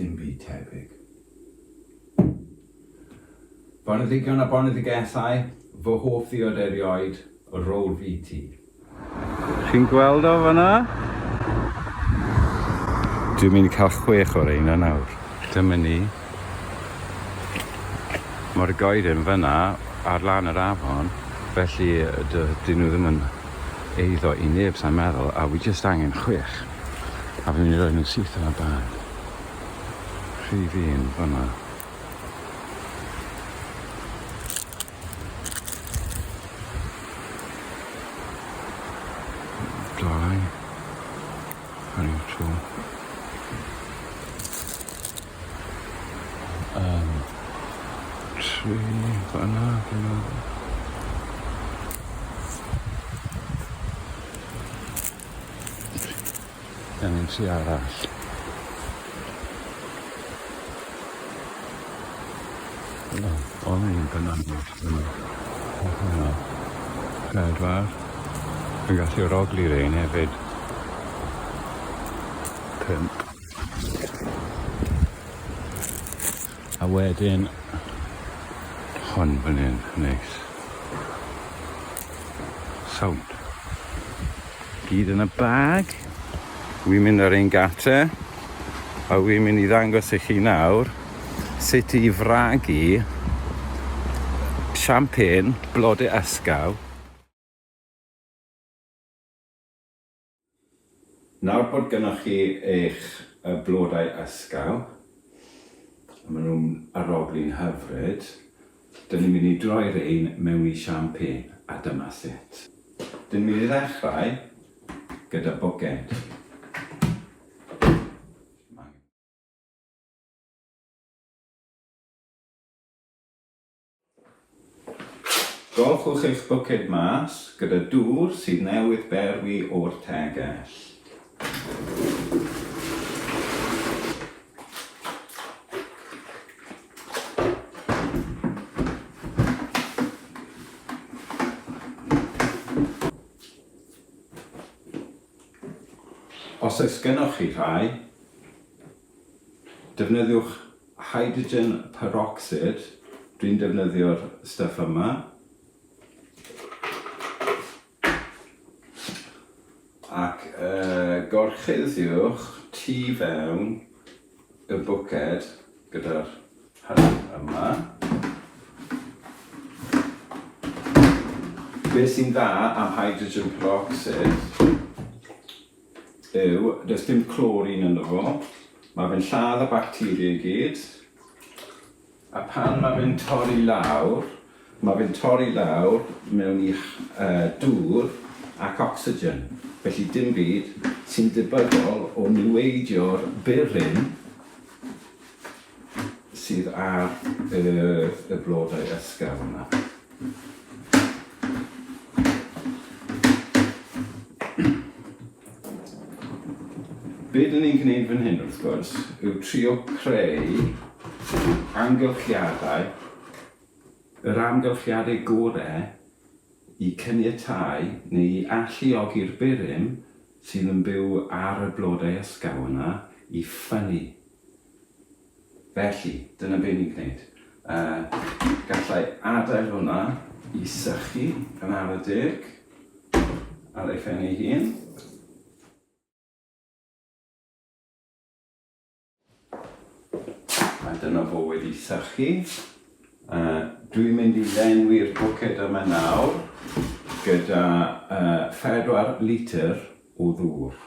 dim byd tebyg. Boneddigion a boneddigethau, fy hoff ddiod erioed, rôl fi ti. Chi'n gweld o fanna? Dwi'n mynd i cael chwech o'r reina nawr. Dyma ni. Mae'r goeden fan'na ar lan yr afon, felly dy- 'dyn nhw ddim yn eiddo i neb sa'n meddwl, a wi jyst angen chwech, a fi'n mynd i roi nhw syth yn y bag. Rhif un fan'na. Dau. Ar un tro. Yym. Tri fana dwi'n meddwl. Gen i ti arall. O, o'n i'n penodol. Pedwar. Dwi'n gallu rhogli rein hefyd. Pump. A wedyn hon fan hyn, neis. Sound. Gyd yn y bag. Wi'n mynd ar ein gate. A wi'n mynd i ddangos i chi nawr sut i fragu champagne blodau ysgaw Nawr bod gynnoch chi eich blodau ysgaw, a maen nhw'n aroglu'n hyfryd, dyn ni'n mynd i droi rhein mewn i champagne, a dyma sut. Dyn ni'n mynd i ddechrau gyda bwced. Golchwch eich bwced mas gyda dŵr sydd newydd berwi o'r tegell. Os oes gennych chi rhai, Defnyddiwch hydrogen perocsid, dwi'n defnyddio'r stuff yma, ac uh, gorchuddiwch tu fewn y bwced gyda'r hyn yma. Be sy'n dda am hydrogen perocsid yw, does dim clorin ynddo fo, mae fe'n lladd y bacteria i gyd, a pan mae fe'n torri lawr, mae fe'n torri lawr mewn i uh, dŵr ac ocsigen, felly dim byd sy'n debygol o niweidio'r bur hyn sydd ar y, y blodau ysgafn yma. Be dyn ni'n gwneud fan hyn wrth gwrs yw trio creu amgylchiadau, yr amgylchiadau gorau i cyniatau neu i alluogi'r burum sydd yn byw ar y blodau ysgaw yna i ffynnu Felly, dyna be ni'n gwneud. Yy, gallai adael hwnna i sychu yn ar y deg ar ei phen ei hun. A dyna fo wedi sychu. Uh, dwi'n mynd i lenwi'r bwced yma nawr gyda uh, 4 litr o ddŵr.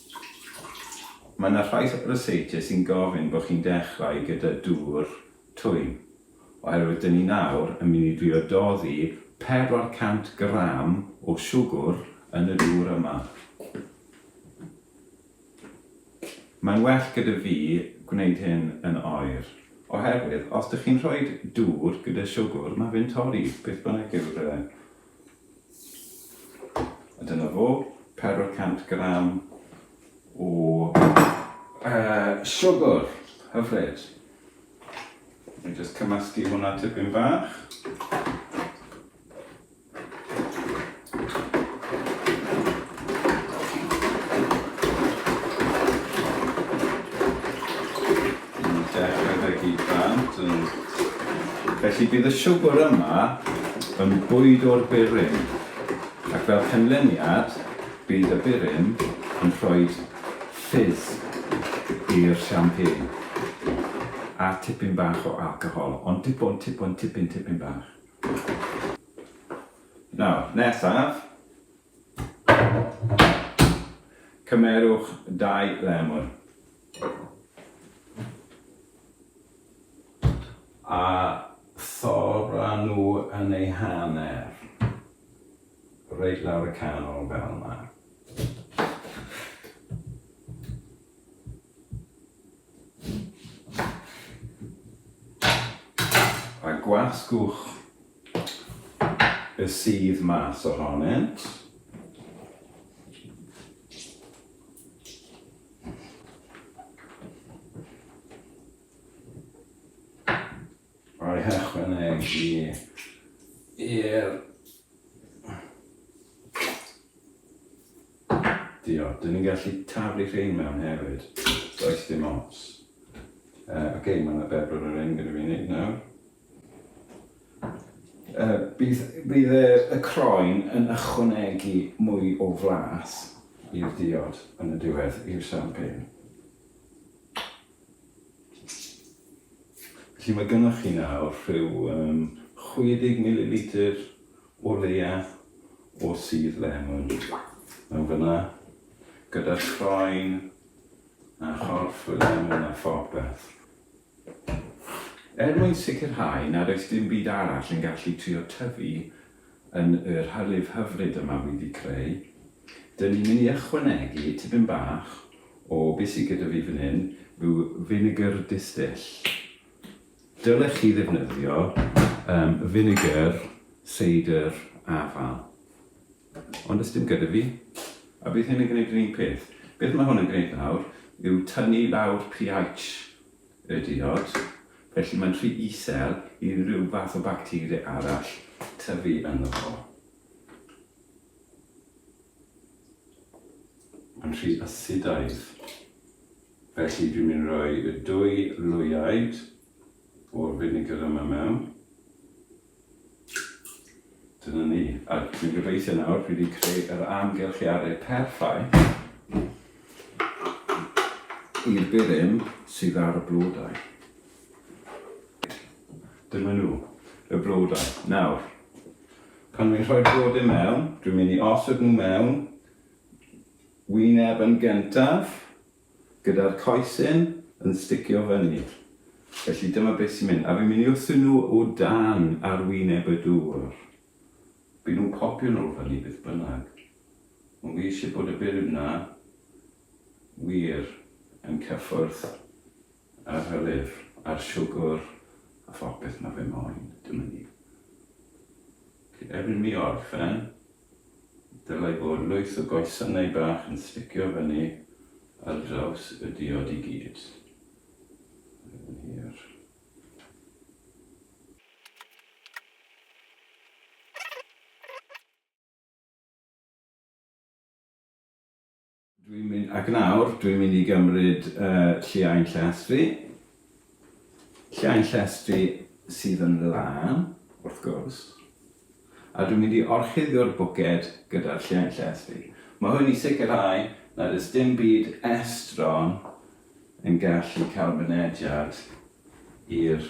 Mae yna rhai ryseitiau sy'n gofyn bod chi'n dechrau gyda dŵr twym, oherwydd dyn ni nawr yn mynd i drio doddi 400 gram o siwgwr yn y dŵr yma. Mae'n well gyda fi gwneud hyn yn oer, oherwydd os dych chi'n rhoi dŵr gyda siwgwr mae fe'n torri, beth bynnag yw'r A dyna fo, pedwar cant gram o uh, siwgr, hyfryd. Ni'n just cymysgu hwnna tipyn bach. Yn dechrau fe gyd bant yn... Felly bydd y siwgwr yma yn bwyd o'r burum, ac fel cynlluniad bydd y burum yn rhoi ffydd i'r champagne, a tipyn bach o alcohol, ond dim ond tipyn, tipyn, tipyn bach. Nawr, nesaf, Cymerwch dau lemon a thorra nhw yn eu hanner reit lawr y canol fel yma. A gwasgwch y sudd mas ohonynt. Roi hychwanegu i'r Diolch. Dyn ni'n gallu taflu rhain mewn hefyd. Does dim ots. Uh, Oce, okay, mae yna bedwar o'r un gyda fi wneud nawr. Yy, bydd, bydd y, y croen yn ychwanegu mwy o flas i'r diod yn y diwedd, i'r champagne. Felly mae gynnwch chi nawr rhyw um, 60 ml o leia o sydd lemon yn fyna, gyda'r croen a chorff y lemon a phopeth. Er mwyn sicrhau nad oes dim byd arall yn gallu trio tyfu yn y rhyrif hyfryd yma wedi'i creu, dyn ni'n mynd i ychwanegu tipyn bach o be sy gyda fi fan hyn yw finegr distill. Dylech chi ddefnyddio finegr seidr afal. Ond does dim gyda fi. A bydd hyn yn gwneud yr un peth. Beth mae hwn yn gwneud nawr yw tynnu lawr pH y diod, felly mae'n rhy isel i ryw fath o bacteria arall tyfu ynddo fo. Mae'n rhy asidaidd. Felly dwi'n mynd i roi y dwy lwyaid o'r vinegar yma mewn. Dyna ni. A dwi'n gobeithio nawr, dwi wedi creu yr amgylchiadau perffaith i'r burum sydd ar y blodau. Dyma nhw, y blodau. Nawr, pan dwi'n rhoi blodau mewn, dwi'n mynd i osod nhw mewn wyneb yn gyntaf, Gyda'r coesyn yn sticio fyny. Felly dyma beth sy'n mynd. A fi'n mynd i wthio nhw o dan arwyneb y dŵr. Bydden nhw'n popio nôl fyny beth bynnag. Ond fi eisiau bod y bur yna wir yn cyffwrdd. ar y lyfr a'r siwgr a phopeth mae fe moyn, dim yn i. Felly erbyn mi orffen, dylai fod lwyth o goesannau bach yn sticio fyny ar draws y diod i gyd. Mae fe'n hir. Dwi'n mynd, ac nawr dwi'n mynd i gymryd lliain llestri, lliain llestri sydd yn lân, wrth gwrs, a dwi'n mynd i orchuddio'r bwced gyda'r lliain llestri. Mae hwn i sicrhau nad oes dim byd estron yn gallu cael mynediad i'r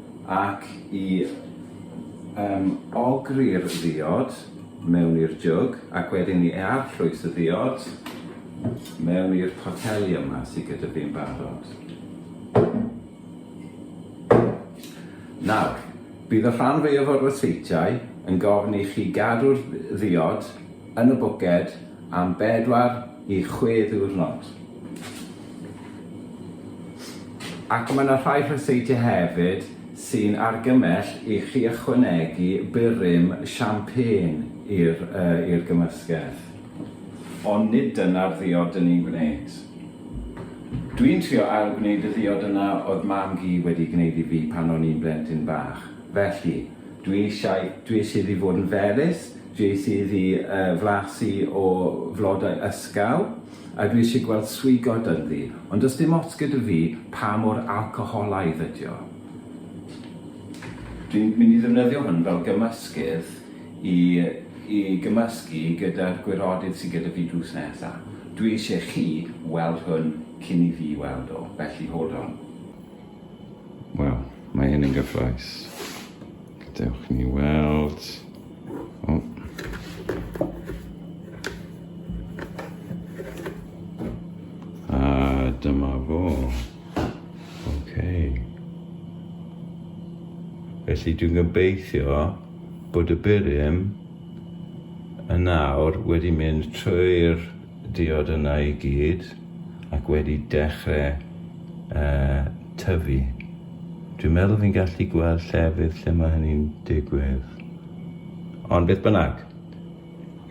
Ac i yym ogri'r ddiod mewn i'r jwg ac wedyn i arllwys y ddiod mewn i'r poteli yma sy gyda fi'n barod. Nawr, bydd y rhan fwyaf o'r ryseitiau yn gofyn i chi gadw'r ddiod yn y bwced am bedwar i chwe ddiwrnod. Ac mae 'na rhai rhyseitiau hefyd sy'n argymell i chi ychwanegu burum champagne i'r yy i'r gymysgedd. Ond nid dyna'r ddiod 'dyn ni'n gwneud. Dwi'n trio ail-gwneud y ddiod yna oedd Mam-gu wedi gwneud i fi pan o'n i'n blentyn bach. Felly, dwi eisiau, dwi eisiau iddi fod yn felys, dwi eisiau iddi yy flasu o flodau ysgaw, A dwi isie gweld swigod ynddi, ond does dim ots gyda fi pa mor alcoholaidd ydi o. Dwi'n mynd i ddefnyddio hwn fel gymysgedd i i gymysgu gyda'r gwirodydd sydd gyda fi drws nesa. Dwi isie chi weld hwn cyn i fi weld o, felly hold on. Wel, mae hyn yn gyffroes. Gadewch ni weld. O. A dyma fo. Okay. Felly dwi'n gobeithio bod y byrym yn awr wedi mynd trwy'r diod yna i gyd. ac wedi dechrau uh, tyfu. Dwi'n meddwl fi'n gallu gweld llefydd lle mae hynny'n digwydd. Ond beth bynnag,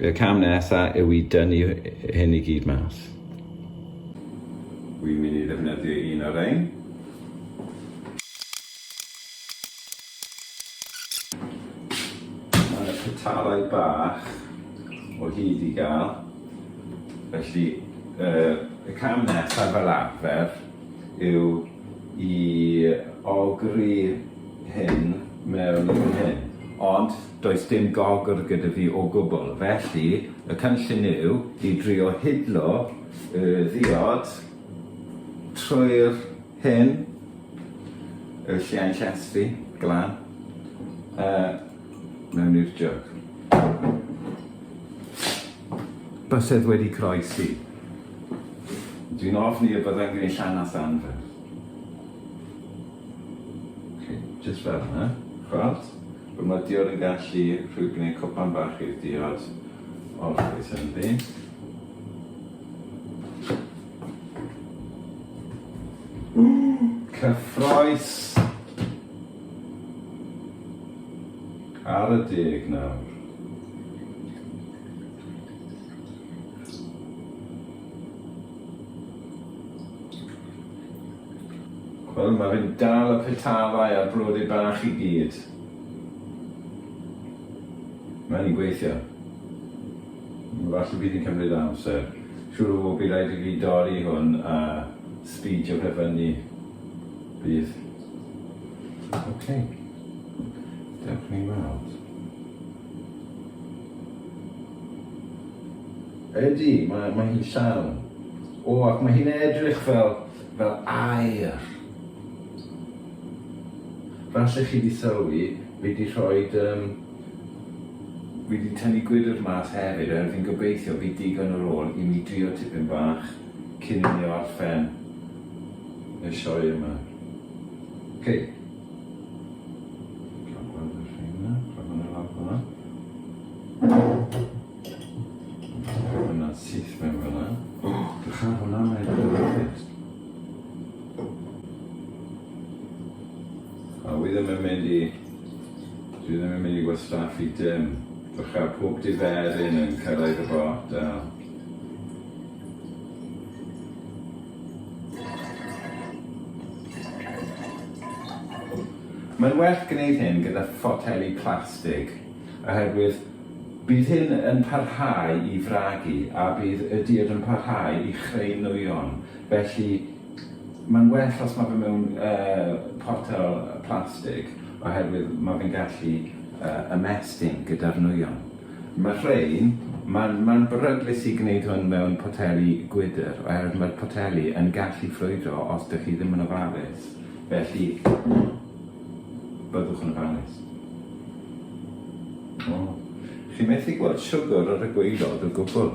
y cam nesaf yw i dynnu hyn i gyd mas. Wi'n mynd i ddefnyddio un o'r ein. Mae yna petarau bach o hyd i gael, felly y cam nesaf fel arfer yw i ogri hyn mewn i fan hyn, ond does dim gogr gyda fi o gwbl, felly y cynllun yw i drio hidlo y ddiod trwy'r Hyn yw lliain llestri glan a mewn i'r jug. Bysedd wedi croesi. Dwi'n ofni y byddai'n gwneud llanast anferth. Chi, jyst fel yna. Gweld? Fy mydiwr yn gallu rhyw gwneud cwpan bach i'r diod o'r coes ynddi. Cyffroes! Ar y deg nawr. Wel, mae fe'n dal y petafau a'r blodau bach i gyd. Mae'n gweithio. Falle bydd yn cymryd amser. Siŵr o fod bydd rhaid i fi dorri hwn a sbeidio fe fyny. Bydd. Ok. Dewch ni weld. Ydy, mae, mae hi'n llawn. O, ac mae hi'n edrych fel, fel air. Falle chi di sylwi, fi di rhoi um, Fi 'di tynnu gwydr mas hefyd er fi'n gobeithio bydd digon ar ôl i mi drio tipyn bach cyn i mi orffen y sioe yma. Ok. Cael gweld y rheina, rhoi hwnna lawr fanna. Rhoi hwnna syth mewn fanna. Drycha ar hwnna, mae'n edrych yn hyfryd. A wi ddim yn mynd i... dwi ddim yn mynd i wastraffu dim. Dw chael pob diferyn yn cyrraedd y botel. Mae'n well gwneud hyn gyda photeli plastig oherwydd bydd hyn yn parhau i fragu a bydd y diod yn parhau i chreu nwyon, felly Mae'n well os mae fe mewn potel plastig oherwydd mae fe'n gallu ymestyn gyda'r nwyon. Mae rhein, mae'n mae'n beryglus i gwneud hwn mewn poteli gwydr oherwydd mae'r poteli yn gallu ffrwydro os dych chi ddim yn ofalus, felly byddwch yn ofalus. O, chi methu gweld siwgr ar y gwaelod o gwbl.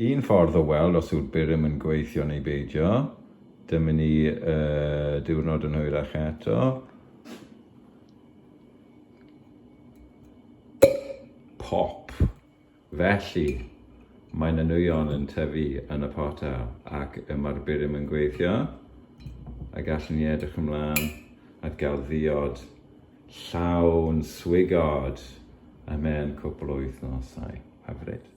Un ffordd o weld os yw'r burum yn gweithio neu beidio. Dyma ni y diwrnod yn hwyrach eto. Pop! Felly, mae na nwyon yn tyfu yn y potel ac y mae'r burum yn gweithio. A gallwn ni edrych ymlaen at gael ddiod llawn swigod a mewn cwpl o wythnosau. Hyfryd.